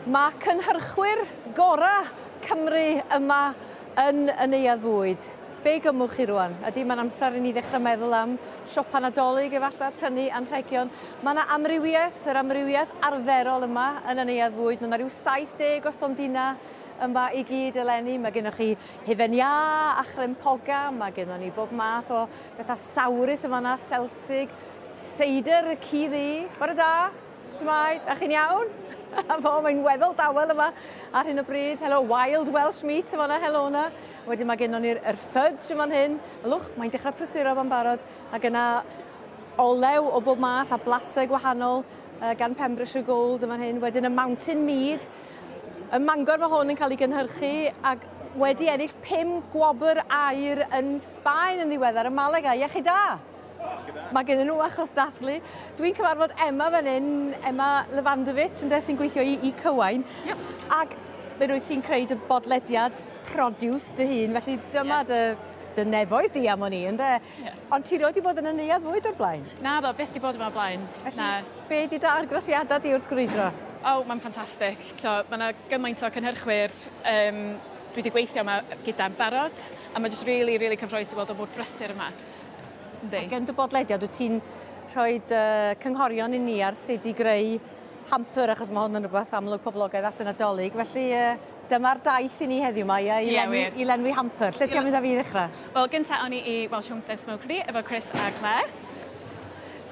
Mae cynhyrchwyr gorau Cymru yma yn y Neuadd Fwyd. Be gymwch chi rwan? Ydy, mae'n amser i ni ddechrau meddwl am siopa Nadolig efallai, prynu anrhegion. Mae yna amrywiaeth, yr amrywiaeth arferol yma yn y Neuadd Fwyd. Mae yna rhyw 70 o stondina yma i gyd eleni. Mae gennych chi hufen iâ a chrem poga, mae gennon ni bob math o bethau sawrus yn fanna, selsig, seidr y ci ddu. Bore da! Shwmae, da chi'n iawn? A fo, mae'n weddol dawel yma ar hyn o bryd. Helo, wild Welsh meat yma na, helo na. Wedyn mae gennon ni'r er fudge yma'n hyn. Ylwch, mae'n dechrau prysuro yma'n barod. A gyna olew o bob math a blasau gwahanol uh, gan Pembrokeshire Gold yma'n hyn. Wedyn y mountain mead. Y mangor mae hwn yn cael ei gynhyrchu ac wedi ennill pum gwobr air yn Sbaen yn ddiweddar. Y maleg a, iechyd da! Mae gen nhw achos dathlu. Dwi'n cyfarfod Emma fan hyn, Emma Levandovic, ynde, sy'n gweithio i, i Cywain. Yep. Ac fe rwyt ti'n creu dy bodlediad produce dy hun, felly dyma yep. dy, dy nefoedd di am o'n i, ynde? Yep. Ond ti roed i bod yn y neuad fwyd o'r blaen? Na ddo, beth di bod yma o'r blaen. Felly, Na. be di dy argraffiadau di wrth gwrydro? O, oh, mae'n ffantastig. Mae yna gymaint o cynhyrchwyr um, dwi wedi gweithio yma gyda'n barod, a mae jyst really, really cyffroes i weld o bod brysur yma. Yndi. Ac yn dy bodlediad wyt ti'n rhoi dy cynghorion i ni ar sut i greu hamper achos mae hwn yn rhywbeth amlwg poblogaidd at y Nadolig. Felly dyma'r daith i ni heddiw mae i, yeah, lenwi, i lenwi hamper. Lle ti'n mynd â fi i ddechrau? Wel, gyntaf o'n i i Welsh Homestead Smokery efo Chris a Claire.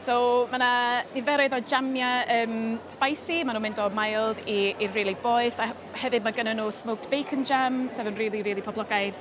So mae yna niferoedd o jamiau um, spicy, maen nhw'n mynd o mild i, i really boeth, a hefyd mae gen nhw smoked bacon jam, sef yn really, really poblogaidd.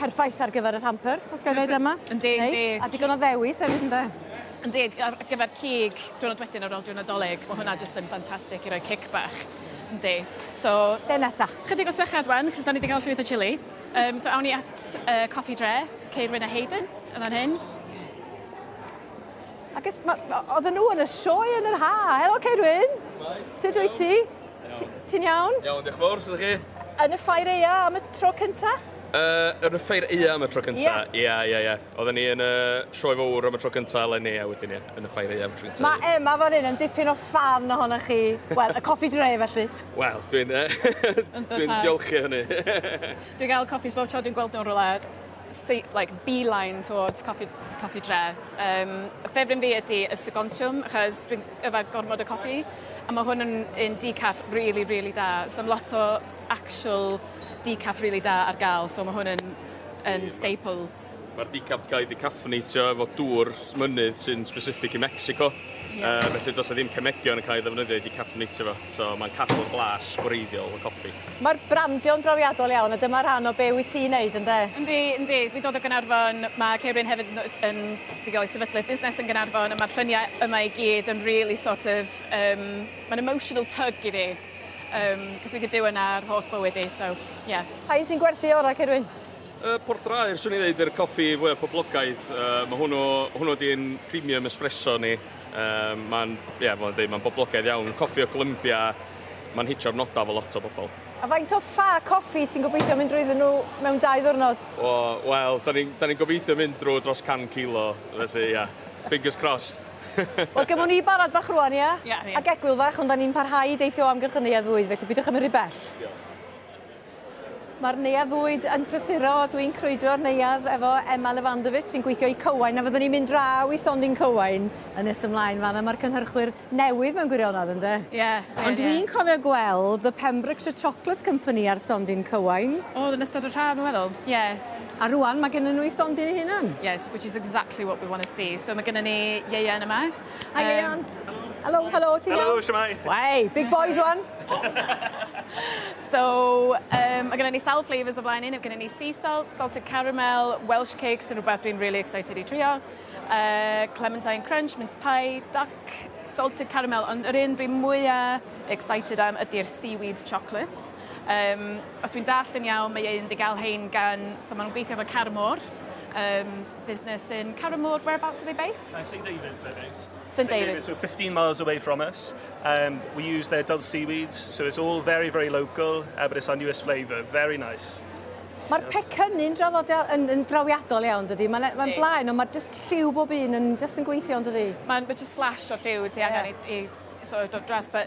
Perffaith ar gyfer y hamper, os gael dweud yma. Yn deg, yn deg. A digon o ddewis hefyd, ynde? Yn deg, ar gyfer cig diwrnod wedyn ar ôl diwrnod Dolig, mae hwnna jyst yn ffantastig i roi cic bach. Yndi. So, be nesa? Chydig o sychad wan, cos da ni wedi cael llwyth o chili. Um, so, awn ni at uh, Coffi Dre, Ceirwyn a Hayden, yn fan hyn. Ac oedden nhw yn y sioe yn yr ha. Helo, Ceirwyn. Sut wyt ti? Ti'n iawn? Iawn, diolch yn fawr, sut ydych chi? Yn y ffair eia am y tro cynta? Uh, yn y ffair eia am y tro cynta? Ia. Ia, ia, ia. Oedden ni yn y sioe fawr am y tro cynta, eleni, a wedyn ia, yn y ffair eia am y tro cynta. Mae Emma fan hyn yn dipyn o fan ohonoch chi. Wel, y coffi dre felly. Wel, dwi'n... dwi'n diolchu hynny. dwi'n gael coffis bob tro dwi'n gweld nhw'n rhywle. say, like, beeline towards Coffi, coffi Dre. Um, y ffefryn fi ydy y Segontiwm, achos dwi'n yfed gormod o coffi, a mae hwn yn un decaf really, really da. So mae lot o actual decaf really da ar gael, so mae hwn yn, yn staple. Mae'r decaf wedi cael ei decaffynatio efo dŵr mynydd sy'n specific i Mexico. Yeah. Uh, felly does e ddim cemegion yn cael ei ddefnyddio i decaffynatio fo. eto, mae'n cadw'r blas gwreiddiol y copi. Mae'r brandio'n drawiadol iawn a dyma rhan o be wyt ti'n neud, ynde? Yndi, yndi. Dwi'n dod o Gaernarfon, mae Ceirwyn hefyd yn, yn dwi o'i sefydlu busnes yn Gaernarfon a mae'r lluniau yma i gyd yn really sort of, um, mae'n emotional tug i fi, um, cos dwi wedi byw yna ar holl bywyd i, so, yeah. Pa un sy'n gwerthu orau, Ceirwyn? Y porthlaer, swn i'n dweud, yw'r coffi fwyaf poblogaidd. Uh, mae hwnnw, hwnnw ydy'n premium espresso ni. Yym ma'n ie fel o'n i'n deud ma'n boblogaidd iawn, coffi o Glymbia, ma'n hitio'r noda efo lot o bobl. A faint o ffa coffi ti'n gobeithio mynd drwyddyn nhw mewn dau ddiwrnod? O wel 'dan ni'n 'dan ni'n gobeithio mynd drwy dros can kilo felly ia fingers crossed. Wel gymwn ni barod bach rŵan ia? Ia ia. Ag egwyl fach ond 'dan ni'n parhau i deithio o amgylch y neuadd fwyd felly pidiwch â mynd rhy bell. Diolch. Mae'r neuadd fwyd yn prysuro, dwi'n crwydro'r neuadd efo Emma Levandovich sy'n gweithio i Cywain a fyddwn ni'n mynd draw i Stondin Cywain yn nes ymlaen fan 'na, mae'r cynhyrchwyr newydd mewn gwirionedd ynde? Ie, ie, ie. Ond dwi'n cofio gweld The Pembrokeshire Chocolate Company ar Stondin Cywain. O, oedd yn ystod yr haf dwi'n meddwl, ie. A rŵan mae gennyn nhw eu stondin eu hunan. Yes, which is exactly what we want to see. So mae gennyn ni ieuan yma. Hi, Leanne. Hello, hello, ti'n iawn? Hello, siamai. Wei, big boys one. so, um, mae gennym ni sawl flavours o flaen un. Mae gennym ni sea salt, salted caramel, Welsh cake, sy'n rhywbeth dwi'n really excited i trio. Uh, clementine crunch, mince pie, duck, salted caramel. Ond yr un dwi'n mwyaf excited am ydy'r seaweed chocolate. Um, os dwi'n dall yn iawn, mae ein di gael hein gan, so maen nhw'n gweithio efo Carmore, um, business in Carrow Moor. Whereabouts are they based? Uh, St David's they're based. St David's. So 15 miles away from us. Um, we use their dull seaweed, so it's all very, very local, uh, but it's our newest flavour. Very nice. Mae'r so. pecynnu'n draddodiad yn, yn drawiadol iawn, dydy. Mae'n ma blaen, ond mae'r just lliw bob un yn just yn gweithio, dydy. Mae'n ma just flash o lliw, di angen yeah. i, i sort of dod dras, but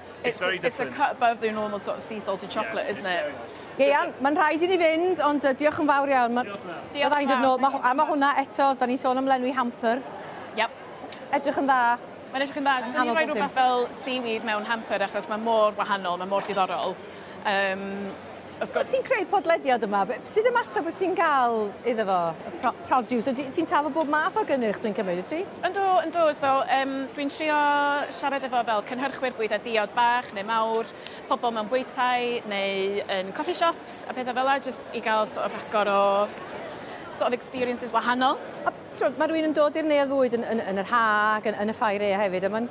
It's, very it's a different. cut above the normal sort of sea salted chocolate, isn't it? Ie, iawn, mae'n rhaid i ni fynd, ond uh, diolch yn fawr iawn. Ma- Diolch yn Diolch Fyddai'n yn dod fawr, nôl, ma' thank you so a mae much. hwnna eto, da ni'n sôn am lenwi hamper, Yep. edrych yn dda. Mae'n edrych yn dda. Dwi'n Anodd rhoi bob dim. rhywbeth fel seaweed mewn hamper achos mae mor wahanol, mae mor diddorol. Um, Wrth gwrs. Wyt ti'n creu podlediad yma, sut ymateb wyt ti'n cael iddo fo, y pro produce? Wyt ti'n trafod bob math o gynnyrch dwi'n cymryd, wyt ti? Yndw, yndw, so um, dwi'n trio siarad efo fel cynhyrchwyr bwyd a diod bach neu mawr, pobl mewn bwytai neu yn coffee shops a pethau fel la, jyst i gael sort of rhagor o sort of experiences wahanol. A mae rhywun yn dod i'r neuadd fwyd yn, yn, yn yr ha ac yn, yn y ffair ea hefyd, a mae'n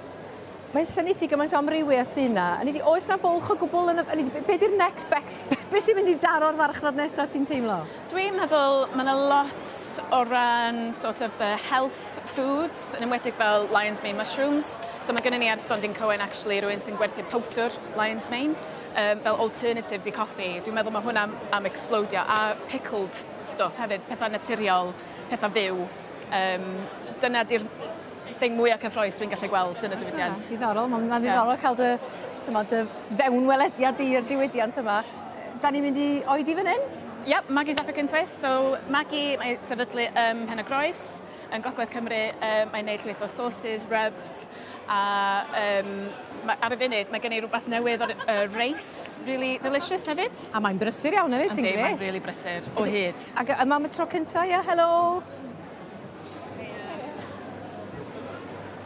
Mae'n syni ti gymaint o amrywiaeth sy'n na. Yn ydi, oes na fwlch o gwbl yn y... Yn ydi, be di'r next best? Be sy'n mynd i daro'r farchnad nesaf ti'n teimlo? Dwi'n meddwl mae yna lot o ran sort of the health foods, yn enwedig fel lion's mane mushrooms. So mae gennym ni ar Stondin Coen actually rhywun sy'n gwerthu powdr lion's mane um, fel alternatives i coffi. Dwi'n meddwl mae hwnna am, am explodio. A pickled stuff hefyd, pethau naturiol, pethau fyw. Um, dyna di'r thing mwya cyffroes dwi'n gallu gweld yn y diwydiant. Ie, diddorol, mae'n ma ddiddorol yeah. cael dy, tyma, dy fewnwelediad di i'r diwydiant yma. Da ni'n mynd i oed i fan hyn? Yep, Maggie's African Twist. So, Maggie, mae sefydlu ym um, Pen y Groes, yn Gogledd Cymru. Um, mae'n neud llwyth o sauces, rubs, a um, mae, ar y funud mae gen i rhywbeth newydd o'r uh, race, really delicious hefyd. A mae'n brysur iawn hefyd, sy'n gret. Mae'n really brysur, o hyd. Ac yma mae tro cyntaf, ia, helo!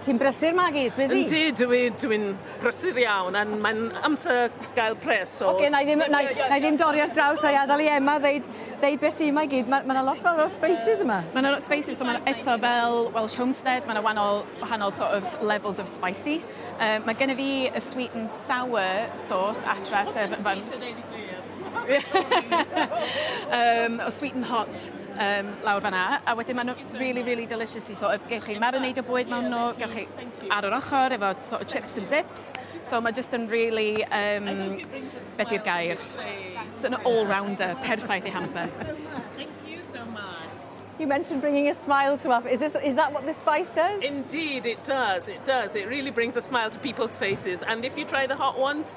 Ti'n brysur Maggie? Busy? Yndi dw i dw i'n brysur iawn a mae'n amser gael pres so... Oce 'nai ddim yy 'nai 'nai ddim dorri ar draws a i adel i Emma ddeud ddeud be' sy 'ma i gyd ma' ma' 'na lot fawr o spices yma. Ma' 'na lot o spices so ma' 'na eto fel Welsh homestead ma' 'na wanol wahanol sort of levels of spicy yy ma' gennyf fi y sweet and sour sauce adra sef fel... Sweet a ddeud y gwir. Yym o sweet and hot. um, lawr fanna, a wedyn maen nhw really, really delicious i, so gewch chi marinade o bwyd mewn nhw, gewch chi ar yr ochr efo sort of chips and dips, so mae just yn really, um, beth i'r gair, so an all-rounder, perffaith i hamper. You mentioned bringing a smile to us. Is, this, is that what the spice does? Indeed, it does. It does. It really brings a smile to people's faces. And if you try the hot ones,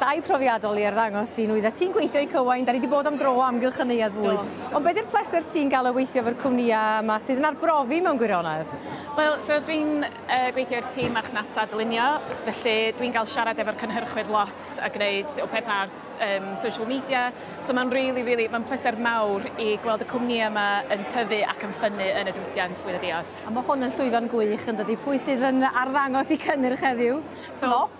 Llai profiadol i arddangos sy'n nwyddau ti'n gweithio i Cywain, da ni di bod am dro o amgylch y neuadd fwyd. Do. Ond be di'r pleser ti'n gael o weithio efo'r cwmnïau yma sydd yn arbrofi mewn gwirionedd? Wel, so dwi'n yy gweithio i'r tîm marchnata dylunio, felly dwi'n gael siarad efo'r cynhyrchwyr lot a gwneud y peth ar um, social media. So mae'n really, really, mae'n pleser mawr i gweld y cwmnïau yma yn tyfu ac yn ffynnu yn y diwydiant bwyd a diod. A mae hwn yn llwyfan gwych yn dydy. Pwy sydd yn arddangos i cynnyrch heddiw? So, Loff?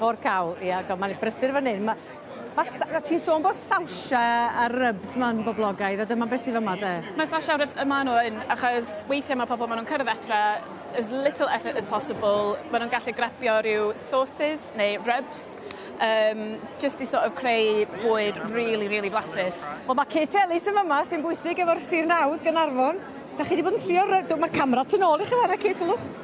Mor cawl, ia. God, mae'n brysur fan hyn. Mae Ma, o ti'n sôn bod sawsia a rybs ma'n boblogaidd, a dyma beth sydd yma de? Mae sawsia a rybs yma nhw yn, achos weithiau mae pobl, maen nhw'n cyrraedd etra, as little effort as possible, maen nhw'n gallu grabio rhyw sauces neu rybs, um, just i sort of creu bwyd really, really blasus. Wel, mae Kate Ellis yn yma, sy'n bwysig efo'r Sir Nawdd, Gynarfon. Da chi wedi bod yn trio, mae'r camera tu ôl i chi fanna, Kate, sylwch.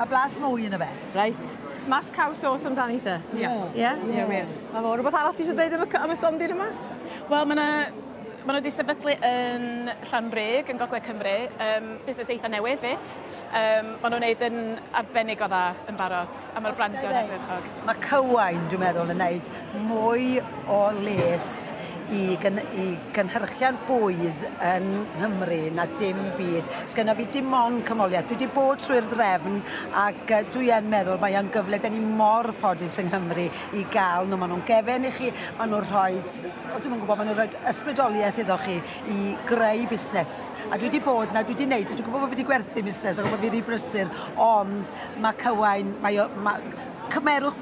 Mae blas mwy yn y fe. Reit. Smash cow sauce amdani te? Ie. Ie? Ie wir. Na fo. Rwbeth arall ti isio deud am y am y stondin yma? Wel ma' 'na ma' n'w 'di sefydlu yn Llanrug yn gogledd Cymru yym busnes eitha newydd 'fyd yym ma' n'w'n neud yn arbennig o dda yn barod a ma'r brandio yn ardderchog. Ma' Cywain dwi'n meddwl yn neud mwy o les i gyn- i gynhyrchiant bwyd yn Nghymru na dim byd. Sgynno fi dim ond cymholiaeth. Dwi 'di bod trwy'r ddraefn ac yy dwi yn meddwl mae o'n gyfle 'dyn ni mor ffodus yng Nghymru i ga'l nw ma' nw'n gefen i chi ma' nw rhoid o dwi'm yn gwbo ma' nw roid ysbrydolieth iddo chi i greu busnes a dwi 'di bod 'na dwi 'di neud dwi 'di gwbo bo' fi 'di gwerthu busnes a gwbo fi ry brysur ond ma' cywain mae o ma' cymerwch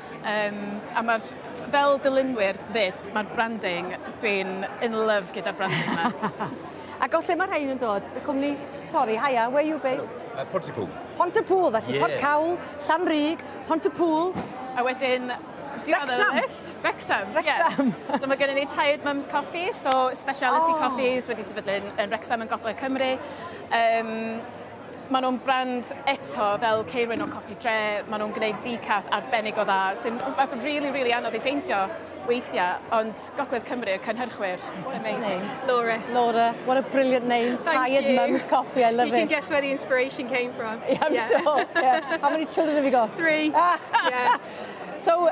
Um, a mae'r, fel dylunwyr fyd, mae'r branding, dwi'n in love gyda'r branding yma. Ac o lle mae rhain yn dod? Y cwmni, sorry, haia, where you based? Uh, Pont y Pŵl. Pont y Pŵl, felly yeah. Port Cawl, Llanrug, Pont y Pŵl. A wedyn, Wrexham. Wrexham, Wrexham. Yeah. so mae gennym ni Tired Mums Coffee, so speciality oh. coffees wedi sefydlu yn Wrexham yn gogledd Cymru. Um, Maen nhw'n brand eto fel Ceirwyn o Coffi Dre, maen nhw'n gwneud decaf arbennig o dda, sy'n rhywbeth rili, rili anodd ei ffeindio weithiau, ond Gogledd Cymru, y cynhyrchwyr, amazing. Laura. Laura, what a brilliant name, Tired Mums Coffee, I love it. You can guess where the inspiration came from. Yeah, I'm sure, yeah. How many children have you got? Three. Yeah. So,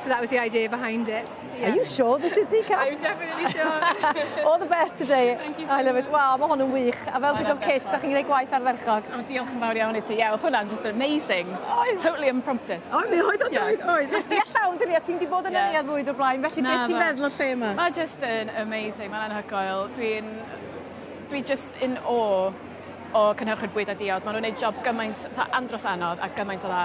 So that was the idea behind it. Yeah. Are you sure this is decaf? I'm definitely sure. All the best today. Thank you so I love it. Wow, mae hwn yn wych. A fel dygodd Kit, da chi'n gwneud gwaith ardderchog. Oh, diolch yn fawr iawn i ti. Yeah, hwnna'n just amazing. Oedd. Totally impromptu. O, mi oedd o, oedd, oedd. Nes fi allawn, dyn ni, a ti'n di bod yn yeah. yniad fwyd o'r blaen, felly beth ti'n meddwl o lle yma? Mae just yn amazing, mae'n anhygoel. Dwi'n... Dwi just in awe o cynhyrchu'r bwyd a diod. Maen nhw'n gwneud job gymaint, andros anodd a gymaint o dda.